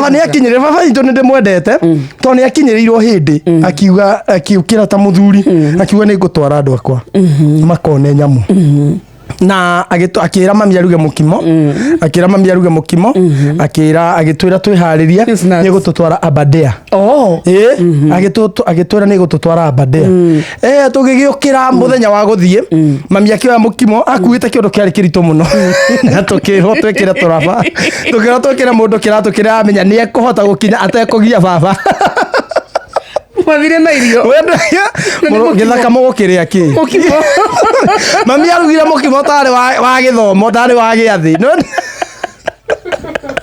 baba nä akinyä baba itå nä ndä mwendete tondå nä akinyä rä irwo hä ndä akiuga akiukä ra ta må thuri akiuga nä ngå twara andå akwa makone nyamũ na agĩtũ- akĩra mami aruge mũkimo akĩra mami aruge mũkimo akĩra agĩtwĩra twĩharĩrie Yes, nuts. nĩ gũtũtwara abadea Oh. ĩĩ agĩtwĩra nĩ gũtũtwara abadea Eh, tũgĩgĩũkĩra mũthenya wa gũthiĩ mami akĩoya mũkimo akuĩte kĩũndũ kĩarĩ kĩritũ mũno na tũkĩrwo twĩkĩre tũraba tũkĩrwo twĩkĩre mũndũ kĩratũ kĩrĩa amenya nĩ ekũhota gũkinya atekũgia baba mathire na irio Wendo- mũrũ- gĩthaka mũgũkĩrĩa kĩ mũkimo mami arugire mũkimo tarĩ wa wa gĩthomo tarĩ wa gĩathĩ Nĩ wona?